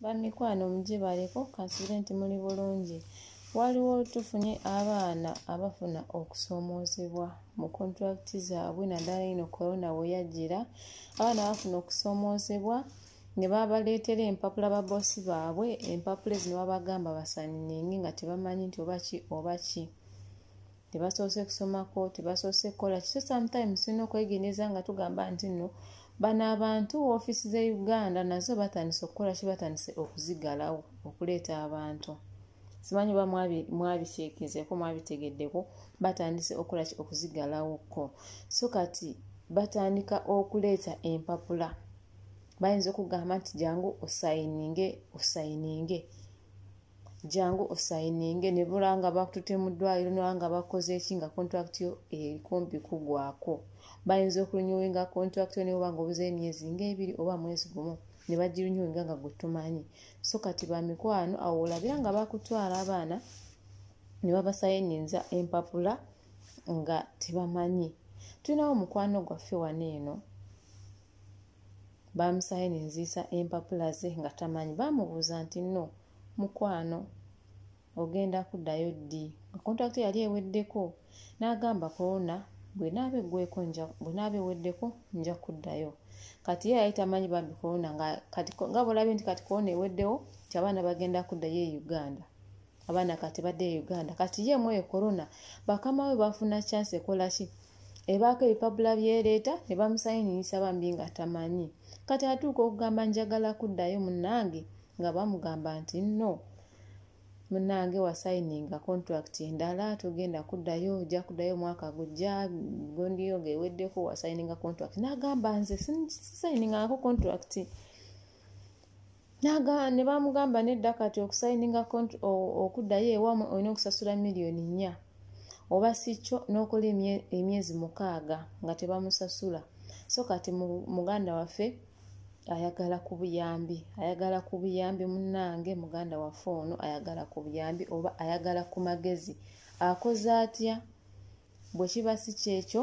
Bamikwano mugibaleko kansubire nti muli bulungi waliwo tufunye abaana abafuna okusoomoozebwa mu kontulakiti zaabwe naddala ino korona we yajjira abaana bafuna okusoomoozebwa ne babaleetera empapula baboosi baabwe empapula ezino babagamba basaninge nga tebamanyi nti oba ki oba ki tebasoose kusomako tebasoose kukola kiso sometimes tulina okwegendereza nga tugamba nti nno bano abantu ofiisi ze uganda nazo batandise okukola ki batandise okuzigalawo okuleeta abantu simanyi oba mwabikyekezeeko mwabitegeddeko batandise okukola ki okuzigalawoko so kati batandika okuleeta empapula bayinza okugamba nti jangu osayininge osayininge jangu osayininge ne bula nga bakutute mu ddwaliro noba nga bakoze eki nga contract yo erikumpi kugwako bayinza okulunyuwinga contract yo newoba nga obuzeyo emyezi ngaebiri oba mwezi gumu ne bagirunyuwinga nga gwetumanyi so kati bamikwano awo olabira nga bakutwala abaana ne babasayininza empapula nga tebamanyi tulinawo mukwano gwaffe wano eno baamusaayo ne nziisa empapula ze nga tamanyi baamubuuza nti no mukwano ogenda kuddayo ddi nga kontakiti yali eweddeko n'agamba korona bwenaaba eggweko bwenaaba eweddeko nja kuddayo kati ye yali tamanyi bambi korona nga bwolabye nti kati korona eweddewo nti abaana bagenda kuddayo e uganda abaana kati badde e uganda kati ye mwoyo corona bakama we bafuna chance ekola ki ebaako ebipapula byeleeta ne bamusayiniyisa bambi nga tamanyi kati atuuka okugamba njagala kuddayo munange nga bamugamba nti no munange wasayininga contract endala togenda kuddayo ojja kuddayo omwaka gujja gondiyo nga eweddeko wasayininga contract nagamba nze sisayiningangako contract ne bamugamba nedda kati okusayininga okuddayo ewamwe olina okusasula miliyoni nnya oba si kyo n'okola emyezi mukaaga nga tebamusasula so kati muganda waffe ayagala ku buyambi ayagala ku buyambi munnange muganda waffe ono ayagala ku buyambi oba ayagala ku magezi akoze atya bwe kiba si kyekyo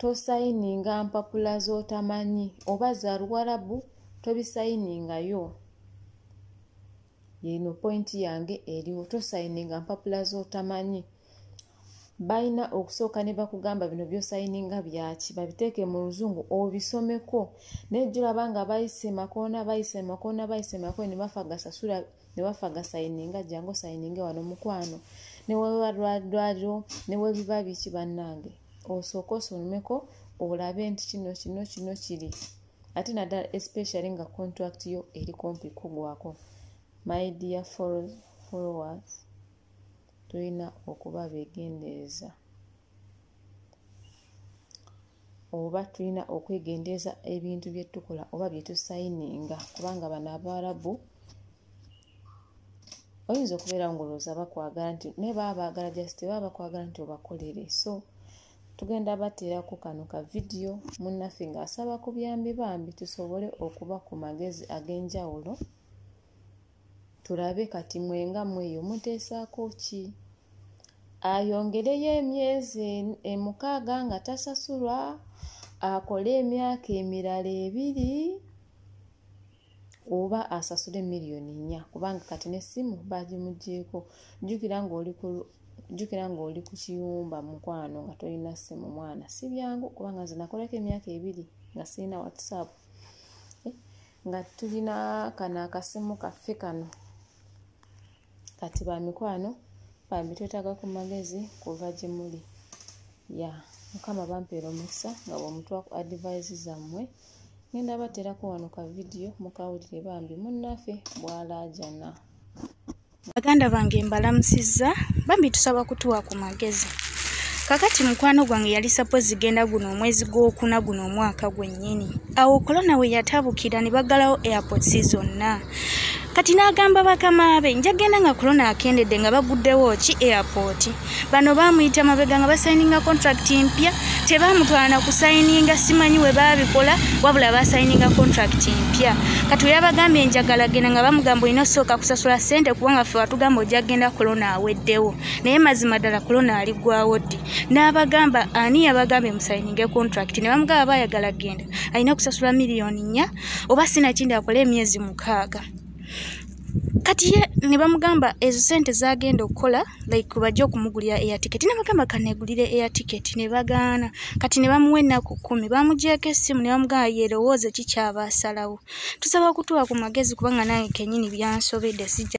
tosayininga mpapula z'otamanyi oba za luwarabu tobisayiningayo yeno pointi yange eriwo tosayininga mpapula z'otamanyi balina okusooka ne bakugamba bino byosayininga byaki babiteeke mu luzungu obisomeko naye jolaba nga bayise makoona bayise makoona bayise makoona ne bafagasasula ne bafagasayininga jangu osayininge wano mukwano newebalwaliro newebiba biki bannange osooke osomeko olabe nti kino kino kino kiri ate naddala especially nga contract yo eri kumpi kugwako my dear followers tulina okuba begendereza oba tulina okwegendereza ebintu byetukola oba byetusayininga kubanga bano abaarabu oyinza okubeera ngaolowooza bakwagala nti naye baba baagala just baba bakwagala nti obakolere so tugenda bateerako kano ka vidiyo munnaffe ng'asaba ku byambi bambi tusobole okuba ku magezi ag'enjawulo tulabe kati mwenga mweyo muteesaako ki ayongereyo emyezi emukaaga nga tasasulwa akole emyaka emirala ebiri oba asasule miliyoni nnya kubanga kati n'essimu baagimuggyeko jjukira ng'oli ku jjukira ng'oli ku kiyumba mukwano nga tolina ssimu mwana si byangu kubanga nze nakolako emyaka ebiri nga sirina whatsapp eh, nga tulina kano akasimu kaffe kano kati ba mikwano bambi twetaaga ku magezi kuva gye muli ya mukama bampeera omukisa nga bwemutwa ku adivise zammwe ngenda baterako wano ka vidiyo mukawulire bambi munnaffe bwalaajana baganda bange mbalamusizza bambi tusaba kutuwa ku magezi kakati mukwano gwange yali sapozi genda guno omwezi gwokuna guno omwaka gwennyini awo kolona we yatabukira ne baggalawo airports zonna kati n'agamba bakama be nja genda nga kulona akendedde nga baguddewo ki airport bano baamuyita mabega nga basayininga contract mpya tebaamutwala na kusayininga simanyi we baabikola wabula basayininga contract mpya kati we yabagambye njagala genda nga bamugamba olina osooka kusasula ssente kubanga ffe watugamba ojja genda kulona aweddewo naye mazima ddala kulona ali gwawo ddi n'abagamba ani yabagambye musayininge contract ne bamugaba baayagala genda alina kusasula miliyoni nnya oba sinakindi akole emyezi mukaaga kati ye ne bamugamba ezo sente zagenda okukola like bajja okumugulira air ticket ne bagamba kanegulire air ticket ne bagaana kati ne bamuwa ennaku kkumi bamugyeko essimu ne bamugamba yerowooze kikyaba asalawo tusaba okutuwa ku magezi kubanga nange kenyini byansobedde sijja